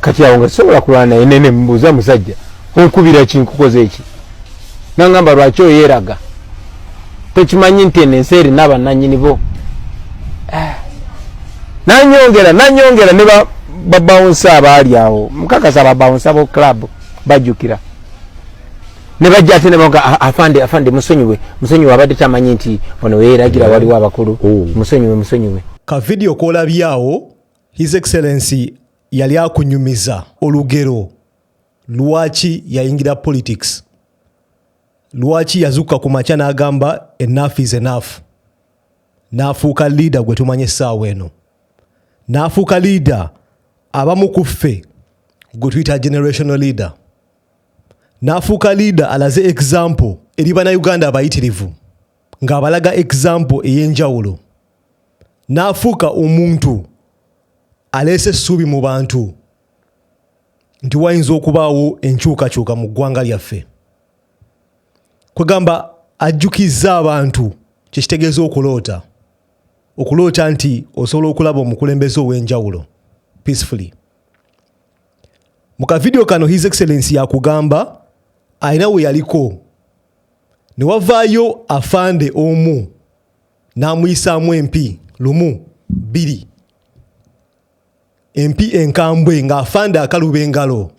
kati awo nga sisobola kulwana naye nene mubuuza musajja onkubira ki nkukoze eki nangamba lwaki oyeraga tokimanyi nti eno ensi erina bananyini bo eh. nanyongera nanyongera ne babawunsa abaali awo mukakasa babawunsa bo club bajjukira ne bajja ate nebaga ah, afande afande musonyiwe musonyiwe abadde tamanyi nti ono weyeragira waliwo abakulu oh. musonyiwe musonyiwe ka vidiyo kolabyawo his excellency yali akunyumiza olugero lwaki yayingira politics lwaki yazukka ku makya n'agamba enough is enough n'afuuka liida gwe tumanya essaawa eno n'afuuka liida abamu ku ffe gwe tuyita generational leader n'afuuka liida alaze example eri banauganda abayitirivu ng'abalaga example ey'enjawulo n'afuuka omuntu aleese essuubi mu bantu nti wayinza okubaawo enkyukakyuka mu ggwanga lyaffe kwegamba ajjukizza abantu kyekitegeeza okuloota okuloota nti osobola okulaba omukulembeze ow'enjawulo peacefully mu kavidiyo kano his excellence yakugamba alina we yaliko ne wavaayo afande omu n'amuyisaamu empi lumu bbiri empi enkambwe ng'afande akaluba engalo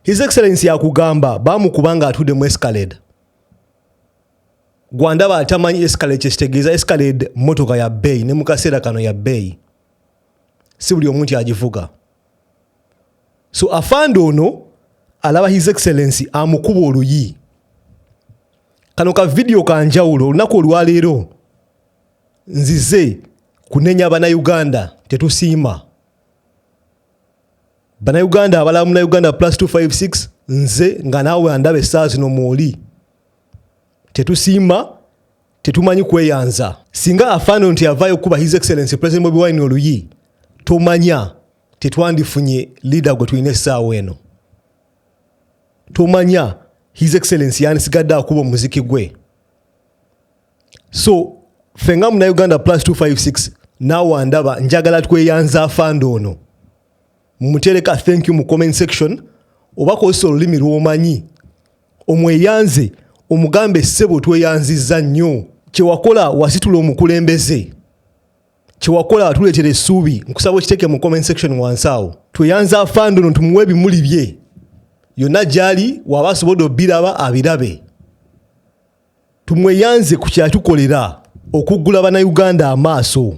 his excellence yakugamba baamukuba ng'atudde mu escalade gwandaba atamanyi escalade kyekitegeeza escalade mmotoka ya bbeeyi ne mu kaseera kano ya bbeeyi si buli omu nti agivuga so afande ono alaba his excellency amukuba oluyi kano ka vidiyo kanjawulo olunaku olwaleero nzize kunenya banauganda tetusiima banauganda abalaba munauganda plus 256 nze nga naawe andaba essaa zino mwoli tetusiima tetumanyi kweyanza singa afaano nti avaayo okukuba his excellence president bobi wine oluyi tomanya tetwandifunye leader gwe tulina essaawa eno tomanya his excellence yandisigadde akuba omuziki gwe so ffe nga muna uganda plus 256 naawe ndaba njagala tweyanza afande ono mutereka thank you mu comment section oba kozesa olulimi lwomanyi omweyanze omugambe sebo tweyanziza nnyo kyewakola wasitula omukulembeze kyewakola watuletera esuubi nkusaba okiteke mu comment section wansi awo tweyanza afande ono tumuwe ebimuli bye yonna gyali waba asobodde obiraba abirabe tumweyanze ku kyatukolera okuggula banauganda amaaso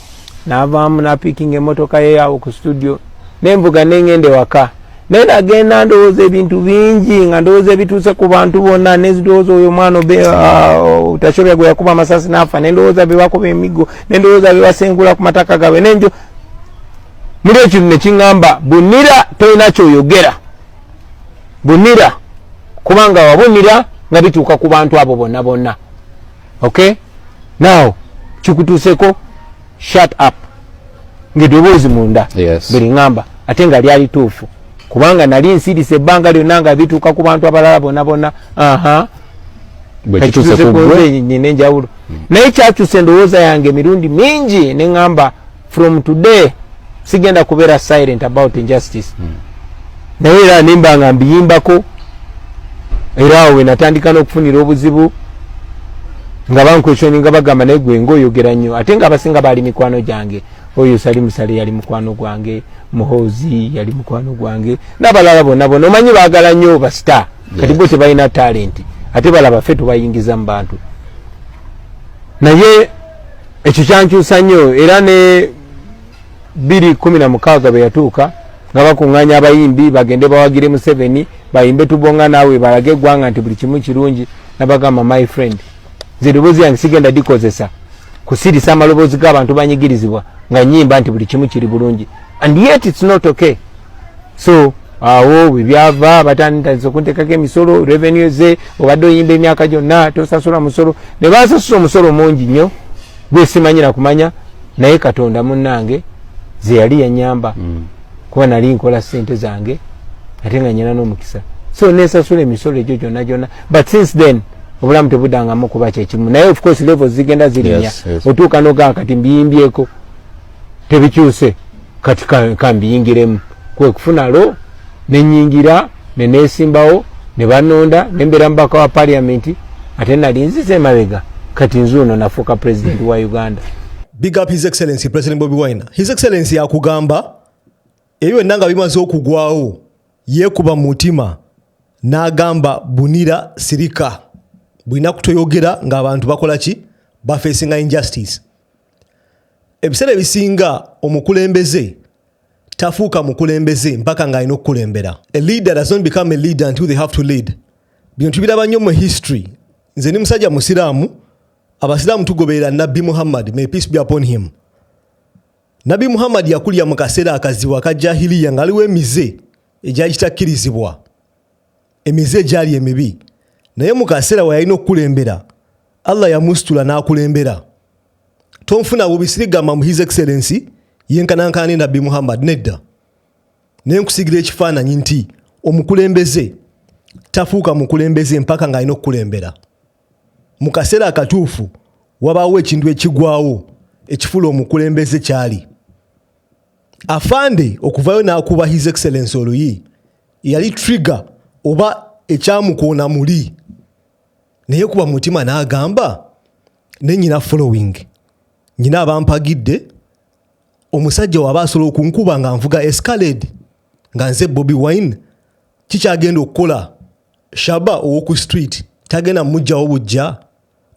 navaamu napikinga emotoka yeyawo ku studio nenvuga nengenda ewaka naye nagenda ndowooza ebintu bingi nga ndowooza ebituuse ku bantu bonna nendowooza oyo omwana uh, tasobya gwe yakuba amasasi nafa nendowooza bebakuba emigo nendowooza bebasengula ku mataka gabwe nenjo muli ekintu nekiŋamba bunira tolina kyoyogera bunira kubanga wabunira nga bituuka ku bantu abo bonna bonna okay now kikutuuseko shut up ngedoboozi munda yes. buli ngamba ate nga lyali tuufu kubanga nali nsirise ebbanga lyonna nga bituuka ku bantu abalala bona bona aha bwekituuse ku gwe nyine enjawulo naye kyakyusa endowooza yange emirundi mingi ne ngamba from today sigenda kubeera silent about injustice hmm. naye era nimba nga mbiyimbako era awo wenatandika n'okufunira obuzibu nga bankwesoni nga bagamba naye gwe ngaoyogera nnyo ate nga abasinga baali mikwano gyange oyo sali musale yali mukwano gwange muhoozi yali mukwano gwange n'abalala bonna bona omanyi baagala nnyo basita kati bo tebalina talenti ate balaba fe tubayingiza mu bantu naye ekyo kyankyusa nnyo era ne biri kumi na mukaaga bwe yatuuka nga bakuŋŋaanya abayimbi bagende bawagire museveni bayimbe tubonga naawe balage eggwanga nti buli kimu kirungi nabagamba my friend nze eddoboozi yange sigenda dikozesa kusirisa amaloboozi g'abantu banyigirizibwa nga nyimba nti buli kimu kiri bulungi and yet it's not okay so awo bwebyava batandise okuntekako emisolo revenue ze obadde oyimba emyaka gyonna tosasula musolo ne bansasula omusolo mungi nnyo gwesimanyira kumanya naye katonda munnange zeyali yanyamba mm. kuba nali nkola sente zange ate nga nyina n'omukisa so nensasula emisolo egyo gyonna gyonna but since then obulamu tebudangamu kuba kyekimu naye of course level zigenda zirinya otuuka nogaa kati mbiyimbyeko tebikyuse kati kambiyingiremu kwekufuna lo nenyingira nenesimbawo nebanonda nembera mubaka wa paliamenti ate nali nzize emabega kati nzuuno nafuuka president wa uganda big up his excellency president bobi wine his excellency yakugamba ebyo byonna nga bimaze okugwawo yekuba mutima nagamba bunira sirika bulina kutoyogera ngaabantu bakola ki bafesinga injustice ebiseera ebisinga omukulembeze tafuuka mukulembeze mpaka ng'alina okukulembera a leader does not become a leader until they have to lead bino tubiraba nnyo mu history nze ni musajja musiraamu abasiraamu tugoberera nabbi muhammad may peace be upon him nabbi muhammad yakulira mu kaseera akazibu aka jahiliya ng'aliwo emize egyali kitakkirizibwa emize egyali emibi naye mu kaseera we yalina okukulembera allah yamusitula n'akulembera tonfuna bubi sirigamba mu his excellency yenkanankana ne nabbi muhammad nedda naye nkusigira ekifaananyi nti omukulembeze tafuuka mukulembeze mpaka ng'alina okukulembera mu kaseera akatuufu wabaawo ekintu ekigwawo ekifula omukulembeze kyali afande okuvayo n'akuba his excellence oluyi yali trigger oba ekyamukoona muli naye kuba mutima n'agamba ne nyina following nyina abampagidde omusajja waba asobola okunkuba nga nvuga escalade nga nze bobi wine kikyagenda okukola shaba owoku street tagenda mujjawo bujja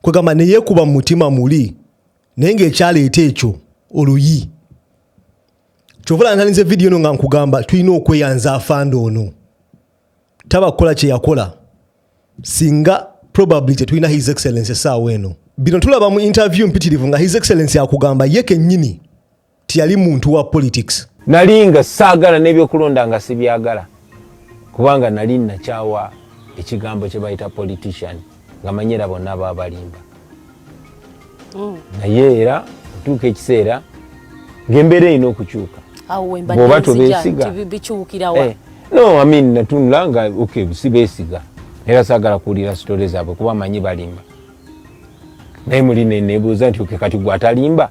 kwegamba neyekuba mumutima muli naye ngaekyaleeta ekyo oluyi kyovala ntalinze vidiyo eno nga nkugamba tulina okweyanza afande ono taba kukola kyeyakola singa probably tetulina his excellence esaawa eno bino tulaba mu interview mpitirivu nga his excellence akugamba ye kenyini tiyali muntu wa politics nali nga saagala n'ebyokulonda nga sibyagala kubanga nali nakyawa ekigambo kye bayita politician nga manyi era bonna baba balimba mm. naye era otuuka ekiseera ngaembeera erina okukyuka bwoba tobesiga eh, no amin natunula nga ok sibesiga era sagala kuwulira sitore zaabwe kuba manyi balimba naye muli nenebuuza nti okekati gwe atalimba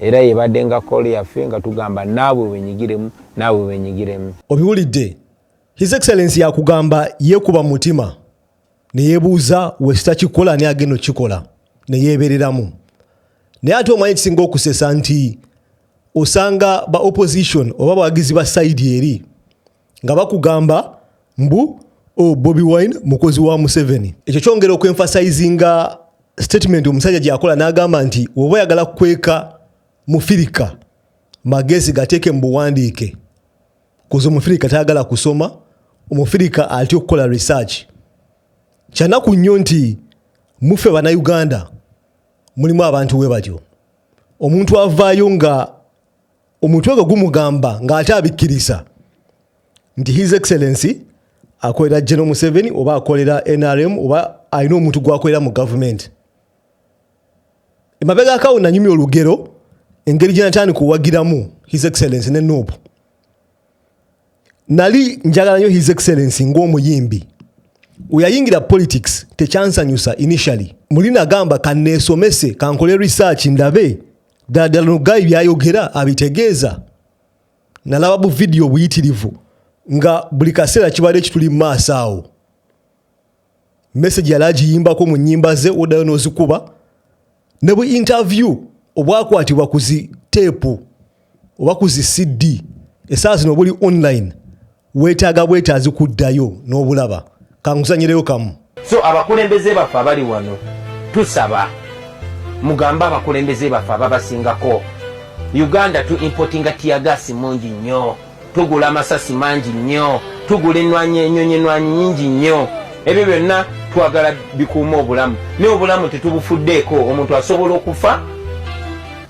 era yebadde nga kooli yaffe nga tugamba naabwe wenyigiremu naabwe wenyigiremu obiwulidde his excellence yakugamba yekuba mutima neyebuuza wesitakikola ani agenda okukikola neyebereramu naye ate omanyi ekisinga okusesa nti osanga ba opposition oba bawagizi ba saidi eri nga bakugamba mbu oh, bobi wine mukozi wa museveni ekyo kyongera okuemphasizinga statement omusajja gyakola n'agamba nti oba oyagala kukweka mufirika magezi gateeke mu buwandiike kuza omufirika tayagala kusoma omufirika atya okukola research kyanaku nnyo nti muffe banauganda mulimu abantu we batyo omuntu avaayo nga omutwe gwe gumugamba ng'ate abikkiriza nti his excellency akolera general museveni oba akolera nrm oba alina omuntu gwakolera mu gavumenti emabega akawo nanyumya olugero engeri gyenataani kuwagiramu his excellency ne nup nali njagala nyo his excellency ngaomuyimbi weyayingira politics tekyansanyusa initially muli nagamba kaneesomese kankole research ndabe ddala ddala nugayi byayogera abitegeeza nalaba bu vidiyo obuyitirivu nga buli kaseera kibadde ekituli mu maaso awo message yali agiyimbako mu nyimba ze odayo nozikuba ne bu interview obwakwatibwa ku zi teepu oba ku zi cd esaawa zino obuli online weetaaga bwetaazi kuddayo n'obulaba kankusanyireyo kamu so abakulembeze baffe abali wano tusaba mugambe abakulembeze baffe ababasingako uganda tu importinga tiyagaasi mungi nnyo tugula amasasi mangi nnyo tugula enwanyi enyonyi enwanyi nyingi nnyo ebyo byonna twagala bikuuma obulamu naye obulamu tetubufuddeeko omuntu asobola okufa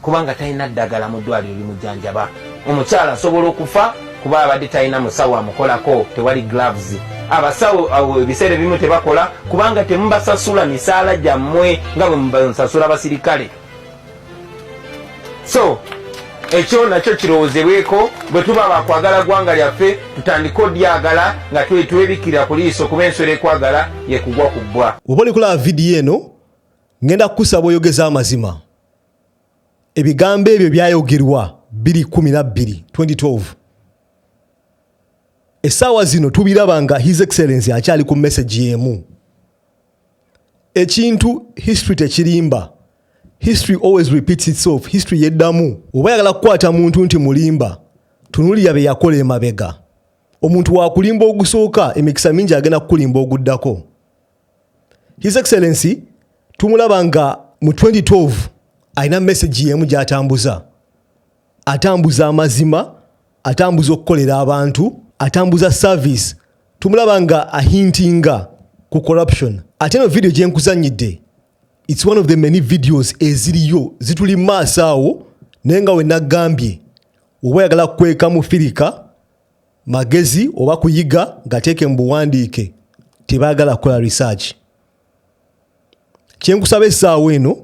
kubanga talina ddagala mu ddwaliro limujjanjaba omukyala asobola okufa kuba abadde talina musawo amukolako tewali gloves abasawo awo ebiseera ebimu tebakola kubanga temubasasula misaala gyammwe nga bwe mubasasula abasirikale so ekyo nakyo kirowoozebweko bwe tuba bakwagala ggwanga lyaffe tutandike odyagala nga twetwebikira ku liiso kuba enswera ekwagala yekugwa ku bbwa oba olikulaba vidiyo eno ŋŋenda kukusaba oyogeze amazima ebigambo ebyo byayogerwa 212 essaawa zino tubiraba nga his excellence akyali ku message y'emu ekintu history tekirimba history always repeats itself history yeddamu oba yagala kukwata muntu nti mulimba tunulira bye yakola emabega omuntu wakulimba ogusooka emikisa mingi agenda kukulimba oguddako his excellency tumulaba nga mu 2012 alina message yemu gyatambuza atambuza amazima atambuza okukolera abantu atambuza service tumulaba nga ahintinga ku corruption ate no video gyenkuzanyidde its one of the many videos eziriyo zituli maaso awo naye nga wenagambye oba yagala kukwekamu firika magezi oba kuyiga gateeke mu buwandiike tebaagala kukola research kyenkusaba essaawa eno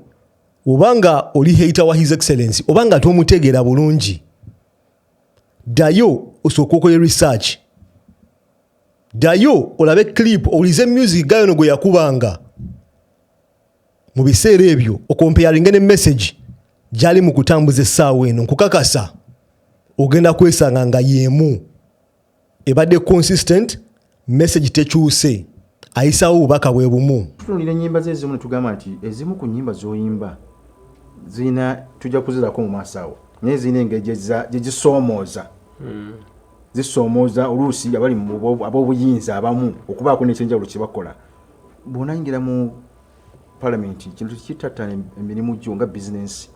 obanga oli heita wa his excellence obanga tomutegeera bulungi ddayo osooka okole research ddayo olabe clip owulize music gayono gwe yakubanga mu biseera ebyo okompeyaringe ne message gyali mu kutambuza essaawa eno nkukakasa ogenda kwesanga nga yeemu ebadde consistent message tekyuse ayisaawo obubaka bwe bumu tutunulira ennyimba ze ezimu netugamba nti ezimu ku nnyimba zoyimba zirina tujja kuzirako mu maaso awo naye zirina engeri gyezisoomooza hmm. zisoomooza oluusi abali ab'obuyinza abamu okubaako nekyenjawulo kyebakola bwonayingira mu palamenti kintu kitattana emirimu gyo nga bizinensi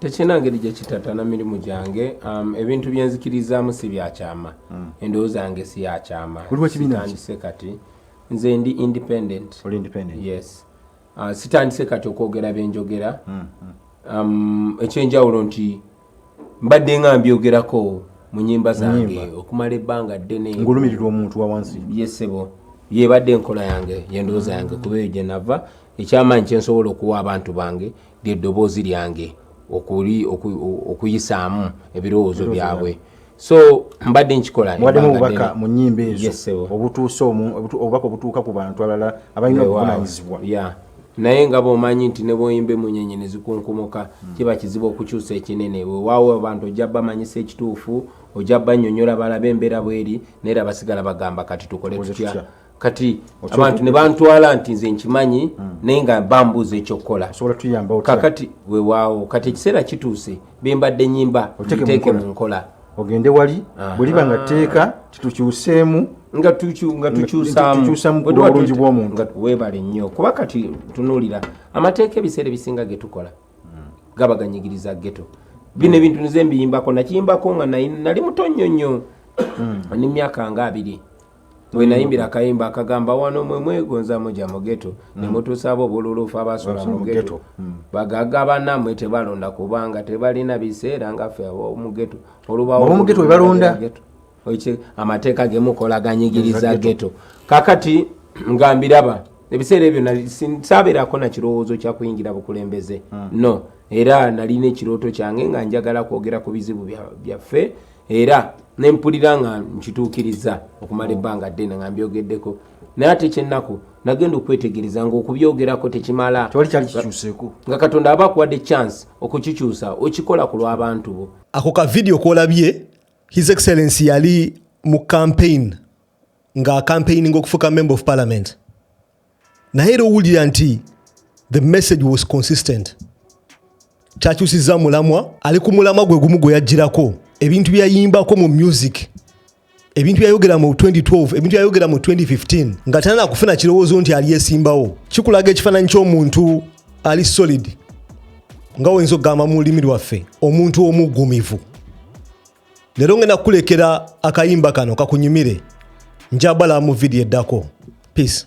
tekirina ngeri gye kitattana mirimu gyange um, ebintu bye nzikirizaamu si byakyama hmm. endowooza yange si yakyama sitandise kati nze ndi independent yes uh, sitandise kati okwogera byenjogera hmm, hmm. um, ekyenjawulo nti mbadde nga mbyogerako mu nyimba zange okumala ebbanga ddene ngolumirirwa omuntu wawansi yesebo yebadde enkola yange yendowooza yange kuba eyo gyenava ekyamaanyi kyensobola okuwa abantu bange lyeddoboozi lyange okuyisaamu ebirowoozo byabwe so mbadde nkikola mwademu obubaka mu nyimba ezo obutuusa obubaka obutuuka ku bantu abalala abalina obuvunanyizibwa naye nga bomanyi nti nebwoyimba emunyenye nezikunkumuka hmm. kiba kizibu okukyusa ekinene wewaawo abantu ojja bamanyisa ekituufu ojja banyonyola balabe embeera bweri naye era basigala bagamba kati tukole tutya kati abantu ne bantwala nti nze nkimanyi hmm. naye nga bambuuza ekyokukola kakati wewaawo kati ekiseera kituuse bembadde nyimba teeke mu nkola ogende wali bweliba nga tteeka titukyuseemu nga tukyusamuobulungi bwomuntu webale nnyo kuba kati tunuulira amateeka ebiseera ebisinga getukola hmm. gaba ganyigiriza geto bino hmm. ebintu nize mbiyimbako nakiyimbako nga nali muto nnyo nnyo hmm. ni myaka nga abiri wenayimbira akayimba akagamba wano mwe mwegonza muja mugeto hmm. nemutusaaba obululufu abasula mugeto hmm. bagaga banamwe tebalonda kubanga tebalina biseera ngaffe omugeto olubawomugeto webalonda amateeka gemukola ganyigiriza geto kakati ngambiraba ebiseera ebyo saberako nakirowoozo kyakuyingira bukulembeze hmm. no era nalina ekirooto kyange nga njagala kwogera ku bizibu byaffe bya era nempulira nga nkituukiriza okumala ebbanga ddene nga mbyogeddeko naye ate kyennaku nagenda okwetegereza ngaokubyogerako tekimala nga katonda aba akuwadde chance okukikyusa okikola ku lw'abantu bo ako ka vidiyo kolabye his excellency yali mu campaign nga campaigning okufuuka member of parliament naye era owulira nti the message was consistent kyakyusiza mulamwa ali ku mulamwa gwe gumu gwe yajjirako ebintu byeyayimbako mu music ebintu byayogera mu 2012 ebintu byayogera mu 2015 nga tanana kufuna kirowoozo nti alyesimbawo kikulaga ekifaananyi ky'omuntu ali solid nga oyinza okugamba mu lulimi lwaffe omuntu omuggumivu leero ngenda kukulekera akayimba kano kakunyumire njabala mu vidiyo eddako peace